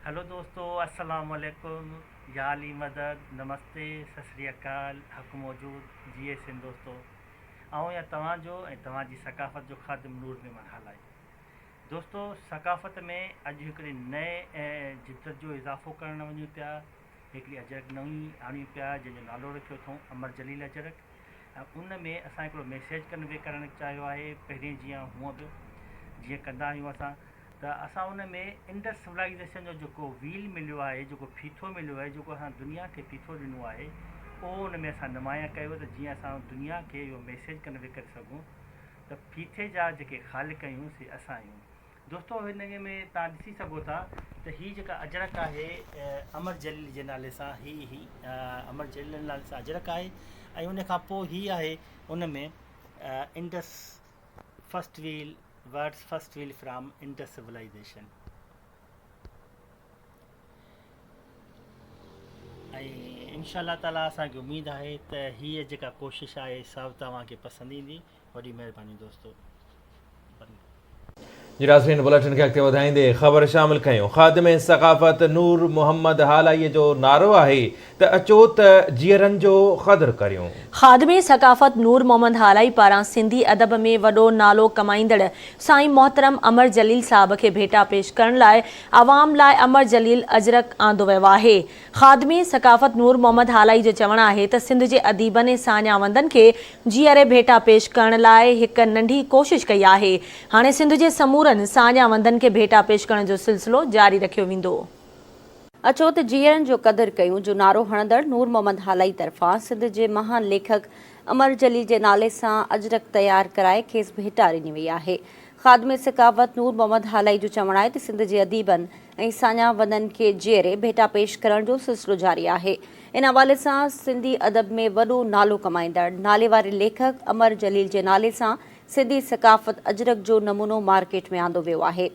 هلو دوستو السلام عليڪم يا علي مدد نمستي سسري اڪال حق موجود جي اي سن دوستو آئون يا توهان جو ۽ توهان جي ثقافت جو خادم نور ميمن هالائي دوستو ثقافت ۾ اڄ هڪڙي نئين جدت جو اضافو ڪرڻ وڃون پيا هڪڙي اجرڪ نئين آڻيون پيا جنهن جو نالو رکيو اٿئون امر جليل اجرڪ ۽ ان ۾ اسان هڪڙو ميسيج ڪنوي ڪرڻ چاهيو آهي پهرين جيان هونء به جيئن ڪندا آهيون اسان ته اسان ان ۾ انڊس سولائيزيشن جو جيڪو ويل مليو آهي جيڪو ڦيٿو مليو آهي جيڪو اسان دنيا کي ڦيٿو ڏنو آهي اهو ان ۾ اسان نمايان ڪيو ته جيئن اسان دنيا کي اهو ميسيج ڪنوي ڪري سگهون ته ڦيٿي جا جيڪي خالق آهيون سي اسان آهيون دوستو هن ۾ توهان ڏسي سگهو ٿا ته هي جيڪا اجرڪ آهي امر جليل جي نالي سان هي هي امر جليل جي نالي سان اجرڪ آهي ۽ ان کان پوء هي آهي ان ۾ Indus first wheel words first wheel from Indus civilisation ۽ انشاء الله تعاليٰ اسانکي اميد آهي ته هيء جيڪا ڪوشش آهي سا توهان کي پسند ايندي وڏي مهرباني دوستو بنگلو. جي ناظرين بليٽن کي اڳتي وڌائيندي خبر شامل ڪيون خادم ثقافت نور محمد هالائيء جو نعرو آهي ته اچو ته جيئرن جو قدر ڪريون. خادم ثقافت نور محمد هالائي پاران سنڌي ادب ۾ وڏو نالو ڪمائيندڙ سائين محترم امر جليل صاحب کي ڀيٽا پيش ڪرڻ لاء عوام لاء امر جليل اجرڪ آندو ويو آهي. خادم ثقافت نور محمد هالائي جو چوڻ آهي ته سنڌ جي اديبن ۽ ساڃاهوندن کي جيئري ڀيٽا پيش ڪرڻ لاء هڪ ننڍي ڪوشش ڪئي آهي. هاڻي سنڌ جي سمورن ساڃاهوندن کي ڀيٽا پيش ڪرڻ جو سلسلو جاري رکيو ويندو. اچو ته جيئرن جو قدر ڪيون جو نعرو هڻندڙ نور محمد هالائي طرفان سنڌ جي مهان ليکڪ امر جليل جي نالي سان اجرڪ تيار ڪرائي کيس ڀيٽا ڏني وئي آهي. خادم سخاوت نور محمد هالائي جو چوڻ آهي ته سنڌ جي اديبن ۽ ساڃاهوندن کي جيئري ڀيٽا پيش ڪرڻ جو سلسلو جاري آهي. ان حوالي سان سنڌي ادب ۾ وڏو نالو ڪمائيندڙ ناليواري ليکڪ امر جليل جي نالي سان سنڌي ثقافت اجرڪ جو نمونو مارڪيٽ ۾ آندو ويو آهي.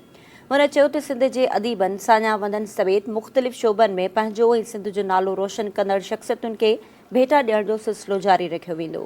هن چيو ته سنڌ جي اديبن ساڃاهوندن سميت مختلف شعبن ۾ پنهنجو ۽ سنڌ جو نالو روشن ڪندڙ شخصيتن کي ڀيٽا ڏيڻ جو سلسلو جاري رکيو ويندو.